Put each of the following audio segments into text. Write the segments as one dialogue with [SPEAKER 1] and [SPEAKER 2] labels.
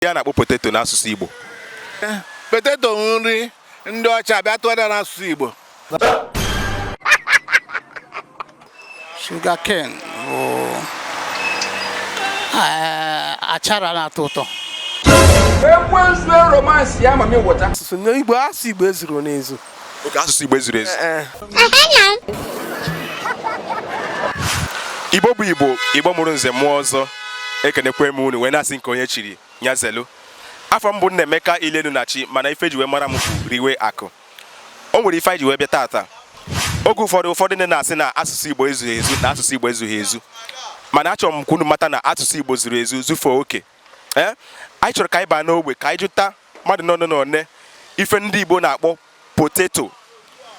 [SPEAKER 1] ihe a na-akpọ poteto n'asụsụ Igbo
[SPEAKER 2] eh, poteto nri ndị ọcha bịa tụgharịa n'asụsụ Igbo
[SPEAKER 3] shuga ken bụ eh, achara na-atọ ụtọ ekwensu
[SPEAKER 4] romance ya mami wọta asụsụ n'igbo asụ
[SPEAKER 5] igbo ezuru n'ezu okay asụsụ
[SPEAKER 1] igbo ezuru ezu eh, eh. igbo bụ igbo igbo mụrụ nze mụọ ọzọ ekenekwe m unu wee na-asị nke onye chiri nya zelu afa m bụ Nnaemeka ilenu na chi mana ife e ji wee mara m bụ riwe akụ o nwere ife anyị ji wee bịa tata oge ụfọdụ ụfọdụ ndị na-asị na asụsụ igbo ezughị ezu na asụsụ igbo ezughị ezu mana achọrọ m ka unu mata na asụsụ igbo zuru ezu zufuo oke ee eh? anyị chọrọ ka anyị baa n'ogbe ka anyị jụta mmadụ one na one ife ndị Igbo na-akpọ poteto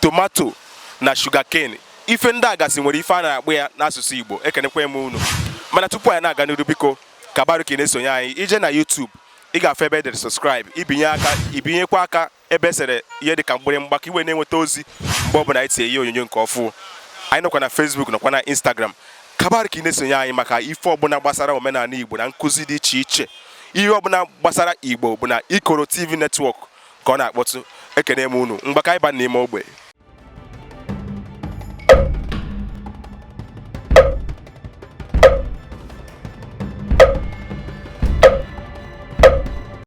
[SPEAKER 1] tomato na shugaken ife ndị a gasị nwere ife a na-akpọ ya n'asụsụ Igbo ekenekwa m unu mana tupu anyị na-aga n'iru biko ka baru ka ị na-esonye anyị ije na YouTube ị ga-afụ ebe e dere subscribe ị binye aka ị binyekwa aka ebe e sere ihe dị ka mgbịrịmgba ka i wee na-enweta ozi mgbe ọbụla anyị tinye ihe onyonyo nke ọfụ anyị nọkwa na Facebook nọkwa na Instagram ka baru ka ị na-esonye anyị maka ife ọbụla gbasara omenala Igbo na nkụzi dị iche iche ihe ọbụla gbasara Igbo bụ na Ikoro TV netwọk ka ọ na-akpọtụ ekene m unu ngwa ka anyị baa n'ime ogbe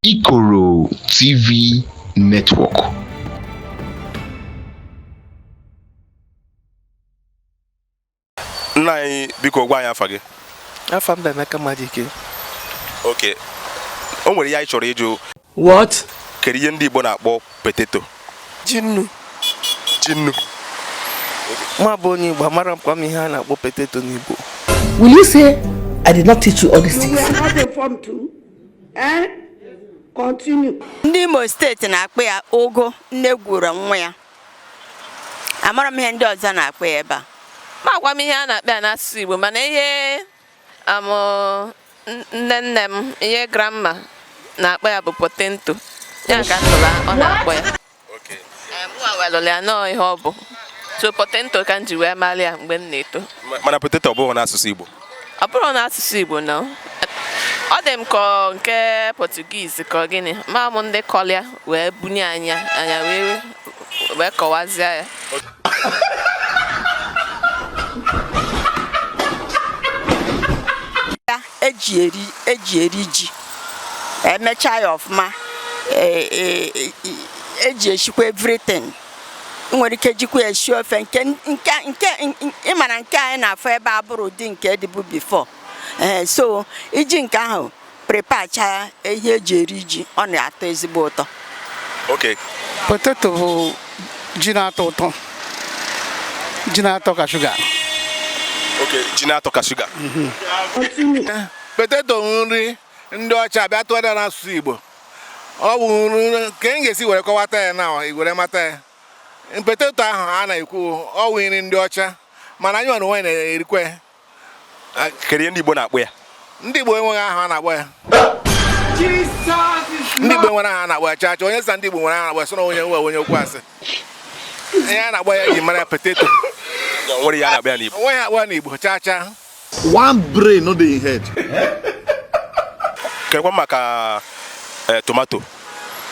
[SPEAKER 6] Ikoro TV Network.
[SPEAKER 1] nna anyị biko gwa anyị afa gị afa m bụ Emeka
[SPEAKER 5] Madike
[SPEAKER 1] okay o nwere ihe anyị chọrọ ịjụ what
[SPEAKER 5] kedu ihe ndị igbo
[SPEAKER 1] na-akpọ poteto ji nnu
[SPEAKER 5] ji nnu mụwa bụ onye igbo amarọkwa m ihe a na-akpọ poteto n'igbo will
[SPEAKER 7] you say i did not teach you all these things eh?
[SPEAKER 8] ndị imo steeti
[SPEAKER 9] na-akpọ ya ogo nne gwuru nwa ya amarọ m ihe ndị ọzọ na-akpọ ya ebe a amakwa m ihe
[SPEAKER 10] a na-akpọ ya n'asụsụ Igbo mana ihe um, nne nne m ihe grandma na-akpọ ya bụ potento ya ka m nụlụ ọ na-akpọ
[SPEAKER 1] ya mụnwa
[SPEAKER 10] welụlụ ya na ọ ihe ọ bụ so potento ka m ji wee mara ya mgbe m na-eto mana poteto ọ bụghị
[SPEAKER 1] n'asụsụ Igbo ọ bụrọ n'asụsụ
[SPEAKER 10] Igbo no ọ dị m ka nke Portuguese ka gịnị ama m ndị kọlị ya wee bunye anyị anyị wee kọwazie ya
[SPEAKER 9] eji eri eji eri ji emechaa ya ọfụma eji e, e, e eshikwa everything nwere ike jikwa esi ofe nke nke nke ị ma na nke anyị na-afụ ebe a abụrọ ụdị nke dịbu bifọ ee so i ji nke ahụ prepacha ihe eji eri ji ọ na-atọ ezigbo ụtọ
[SPEAKER 1] okay
[SPEAKER 3] poteto bụ ji na-atọ ụtọ ji na-atọ ka
[SPEAKER 1] shuga okay ji na-atọ ka shuga mhm. poteto
[SPEAKER 2] nri ndị ọcha bịa tụgharịa n'asụsụ Igbo ọ bụ nri ka m ga-esi were kọwata ya na were mata ya poteto ahụ a na-ekwu ọ wụ nri ndị ọcha mana anyị nwere onwe na-erikwa ya kedu
[SPEAKER 1] ihe ndị Igbo na-akpọ ya ndị Igbo enweghị
[SPEAKER 2] aha a na-akpọ ya ndị Igbo enwerọ aha a na-akpọ ya chacha onye sị ndị Igbo nwere aha a na-akpọ ya so na onye nwe onye okwu asị ihe a na-akpọ ya ji mara ya poteto o
[SPEAKER 1] nweghị akpọ ya n'Igbo chacha
[SPEAKER 6] one brain no dey in
[SPEAKER 1] head. kekwa maka eh, tomato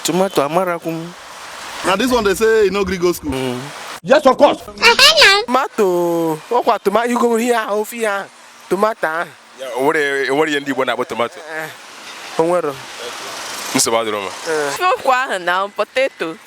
[SPEAKER 1] tomato
[SPEAKER 5] amarakwu m na this one dey
[SPEAKER 6] say e no gree go school. Mm. yes of course.
[SPEAKER 5] tomato ọkwa tomato igoro ihe ahụ ofe ihe ahụ tomato ahụ Ya, o nwere
[SPEAKER 1] o nwere ihe ndị Igbo na-akpọ tomato o nwere
[SPEAKER 5] nsogbu
[SPEAKER 1] adịrọ ma okwu ahụ na
[SPEAKER 10] poteto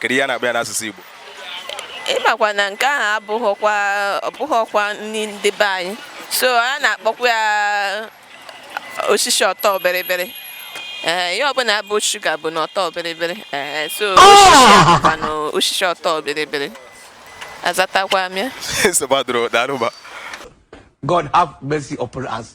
[SPEAKER 1] kedu ihe a na-akpọ ya n'asụsụ Igbo ị
[SPEAKER 10] makwa na nke ahụ abụghịkwa ọ bụghịkwa nri ndị be anyị so a na-akpọkwa ya osisi ọtọ bịrịbịrị ee ihe ọbụla bụ shuga bụ na ọtọ bịrịbịrị ee so osisi a bụkwa na osisi ọtọ bịrịbịrị azatakwa m ya nsogbu adịrọ daalụ
[SPEAKER 1] ma God
[SPEAKER 4] have mercy upon us.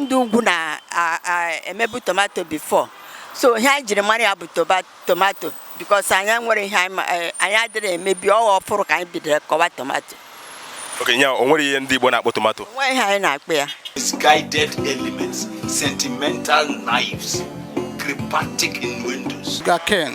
[SPEAKER 9] ndị ugwu na-emebu tomato before so ihe anyị jiri mara ya bụ tomato because anyị nwere ihe e, anyị adịrọ emebu ọghọ ọfụrụ ka anyị bidoro kọwa tomato okay
[SPEAKER 1] nya o nwere ihe ndị Igbo na-akpọ tomato nwere ihe anyị na-akpọ
[SPEAKER 9] ya
[SPEAKER 8] misguided elements sentimental knives cryptic innuendos gaken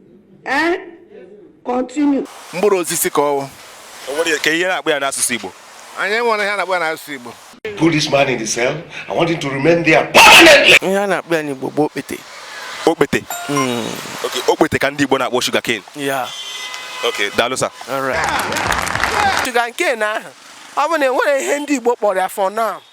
[SPEAKER 7] ee continue mkpụrụ osisi
[SPEAKER 2] ka ọ wụ kee
[SPEAKER 1] ihe a na-akpọ ya n'asụsụ Igbo anyị enwere ihe a na-akpọ
[SPEAKER 2] ya n'asụsụ Igbo put this man in the
[SPEAKER 8] cell I want him to remain there permanently ihe a na-akpọ ya
[SPEAKER 5] n'Igbo bụ okpete
[SPEAKER 1] okpete hmm. okpete ka ndị Igbo na-akpọ sugarcane
[SPEAKER 5] okay daalụ
[SPEAKER 1] sir
[SPEAKER 5] sugarcane ahụ ọ bụ na enwere ihe ndị Igbo kpọrọ ya for now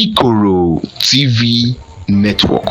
[SPEAKER 6] Ikoro TV Network.